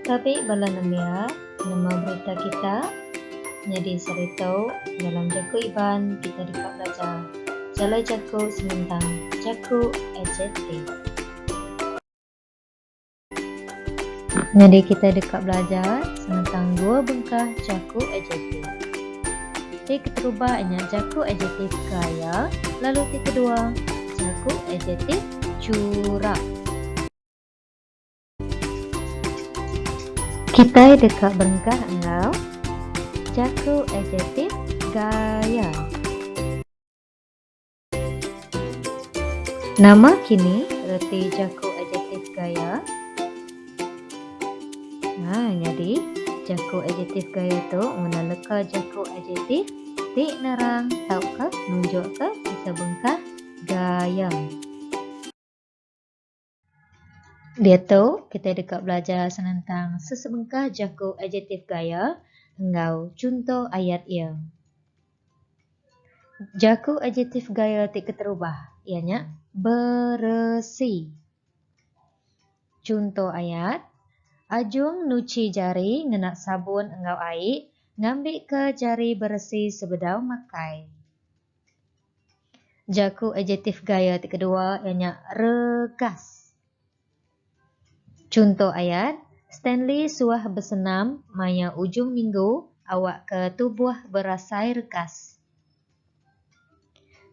Tabi bala nembiak nemu berita kita nyadi seritu dalam jaku Iban kita deka belajar jalai jaku senentang jaku adjektif. Nyadi kita deka belajar senentang dua bengkah jaku adjektif. Ti keterubah nya jaku adjektif kaya lalu ti kedua jaku adjektif churap. Kitai deka berengkah enggau jaku adjektif gaya. Nama kini reti jaku adjektif gaya? Ha, nyadi, jaku adjektif gaya tu ngena leka jaku adjektif ti nerang tauka nunjukka sisa bengkah gaya. Diatu, kitai deka belajar senentang sesebengkah jaku adjektif gaya enggau chunto ayat iya. Jaku adjektif gaya ti keterubah iya nya beresi. Chunto ayat, Ajung nuchi jari ngena sabun enggau ai ngambika jari beresi sebedau makai. Jaku adjektif gaya ti kedua iya nya regas. Chunto ayat, Stanley suah besenam maya ujung minggu awakka tubuh berasai regas.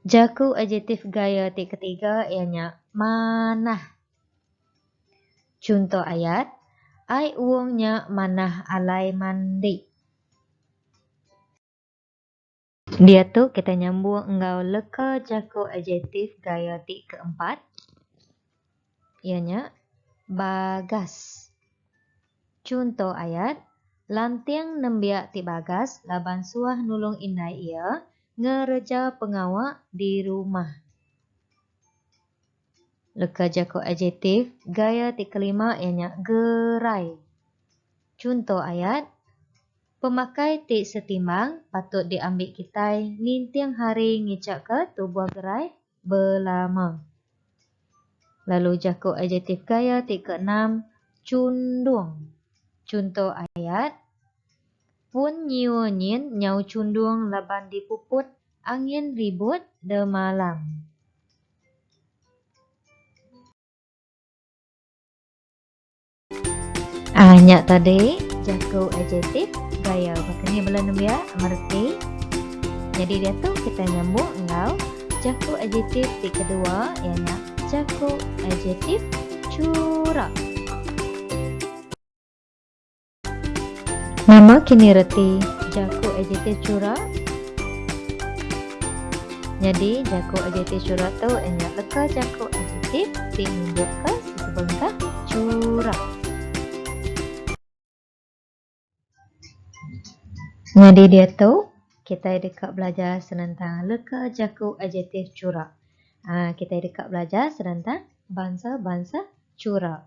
Jaku adjektif gaya ti ketiga iya nya manah. Chunto ayat, Ai uung nya manah alai mandi. Diatu kita nyambung enggau leka jaku adjektif gaya ti keempat iya nya bagas. Chunto ayat, Lanting nembiak ti bagas laban suah nulung indai iya ngereja pengawa di rumah. Leka jaku adjektif gaya ti kelima iya nya gerai. Chunto ayat. Pemakai ti setimbang patut diambi kitai ninting hari ngichakka tubuh gerai belama. Lalu jaku adjektif gaya ti keenam, chundung. Chunto ayat, Pun nyiur nyin nyau chundung laban dipuput angin ribut demalam. Ah, nya tadi jaku adjektif gaya baka ni bela nembiak mereti. Jadi dia tu kita nyambung enggau jaku adjektif ti kedua ianya nya jaku adjektif curah. Nama kini reti jaku adjektif curah? Jadi jaku adjektif curah tu ianya leka jaku adjektif ti nunjukka Sebengkah curah. Nyadi diatu, kitai deka belajar senentang leka jaku adjektif curah. Aa, kitai deka belajar senentang bansa-bansa curah.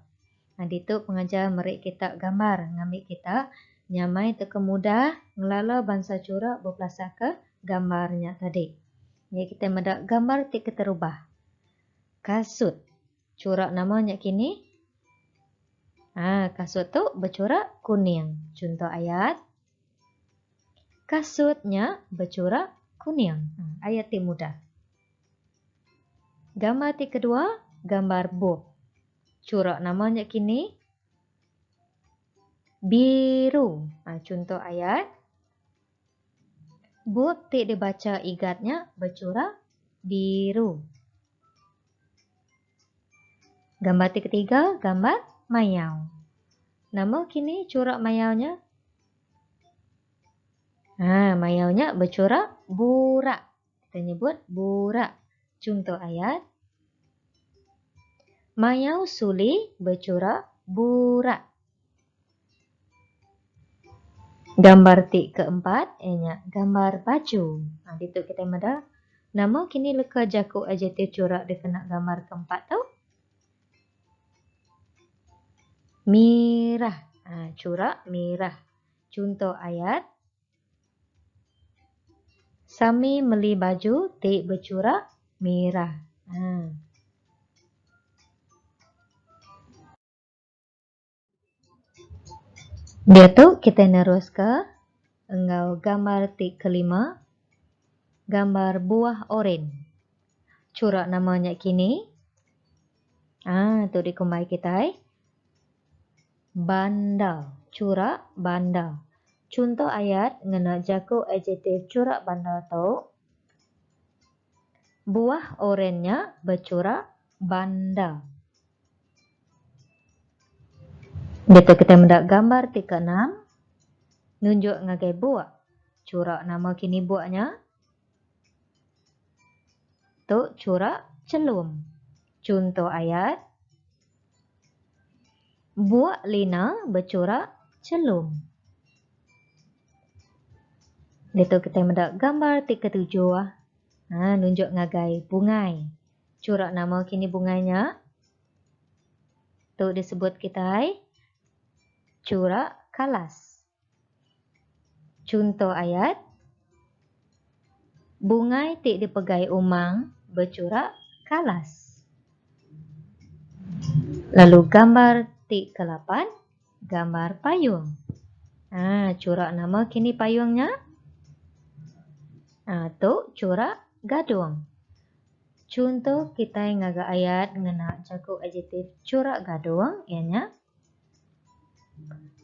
Aa, ditu pengajar meri kita gambar ngambi kita nyamai tauka mudah ngelala bansa curah bepelasarka gambar nya tadi. Meh kitai meda gambar ti keterubah. Kasut. Churak nama nya kini? Ha, kasut tu bechurak kuning. Chunto ayat. Kasut nya bechurak kuning. Ha, ayat ti mudah. Gambar ti kedua, gambar bup. Churak nama nya kini? Biru. Ha, chunto ayat. Bup ti dibacha Igat nya bechura biru. Gambar ti ketiga, gambar mayau. Nama kini chura mayau nya? Ha, mayau nya bechura burak. Kita nyebut burak. Chunto ayat. Mayau suli bechurak burak. Gambar ti keempat iya nya gambar baju. Ha ditu kita meda nama kini leka jaku adjektif churak dikena gambar keempat tu? Mirah. Ha churak mirah. Chunto ayat. Sami meli baju ti bechurak mirah. Haa. Diatu kitai neruska enggau gambar ti kelima, gambar buah oren. Churak nama nya kini. Haa, tu dikumbai kitai. Banda, churak banda. Chunto ayat ngena jaku adjektif churak banda tu, Buah oren nya bechurak banda. Ditu kitai meda gambar ti keenam nunjuk ngagai buak. Churak nama kini buak nya? Tu chura chelum. Chunto ayat, Buak Lina bechura chelum. Ditu kitai meda gambar ti ketujuh ha, nunjuk ngagai bungai. Chura nama kini bungai nya? Tu disebut kitai chura kalas. Chunto ayat, Bungai ti dipegai umang bechurak kalas. Lalu gambar ti kelapan, gambar payung. Ha, churak nama kini payung nya? Ha, tu churak gadung. Chunto kitai ngaga ayat ngena jaku adjektif churak gadung iya nya.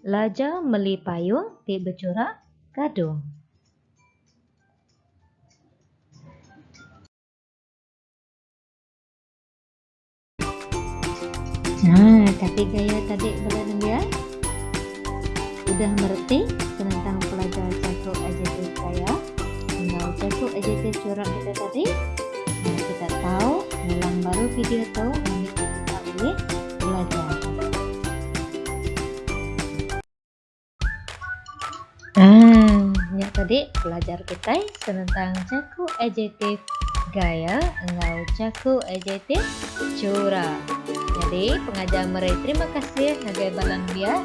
Laja meli payung ti bechurak gadung. Nah, kati gaya tadi bala nembiak? Udah mereti senentang pelajar jaku adjektif gaya enggau jaku adjektif churak kita tadi? Meri kita tau ngulang baru video tu mungkin kita boleh belajar. Ah, nya tadi belajar kita tentang jaku adjektif gaya enggau jaku adjektif curah. Jadi pengajar meri terima kasih ngagai balan biak.